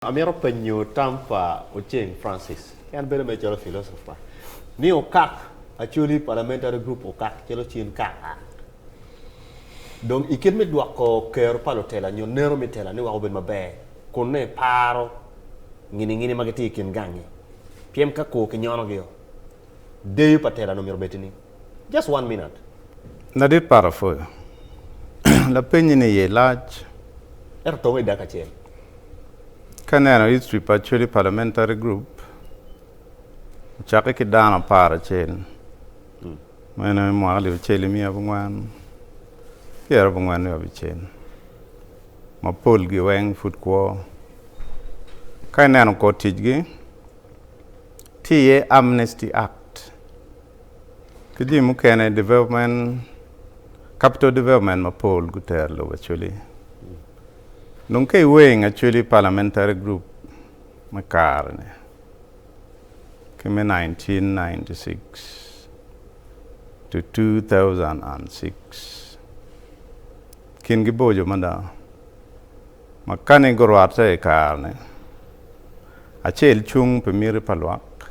Amito penyo tam pa Oceng Francis, en bedo mere calo philosopher, ni okak actually parliamentary group okak calo cin kaka dong ikit me dwoko kero pa lutela nyo neno me tela ni weko obed maber kunne iparo ngini ngini ma gitye ikin gangi pien ka kor kinyono gi o deyo pa tela nongo myero obed tye ni Just one minute. Ladit Pato pwoyo lapenyi ni iye lac. Ento tong idaka acel. Ka ineno history pa Acholi Parliamentary Group, ocakke ki dano apar acel, meno i mwaka alip acel ki miya abongwen pyera abongwen wiye abicel, ma polgi weng pud kwo. Ka ineno kor ticgi, tye iye Amnesty Act, Ki jami mukene, development, capital development mapol gutero lobo actually. Dong ka iweng actually parliamentary group me kare-ni ki me 1996 to 2006 kingi boco mada ma kani gurwatte i kare-ni, acel cung pi miti pa lwak,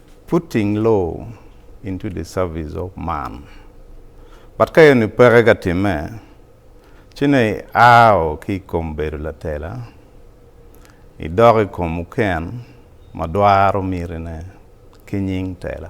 Putting law into the service of man but ka eni peke ka timme ci ne i ao ki i kom bedo latela i dok i kom oken ma dwaro mitine ki nying tela.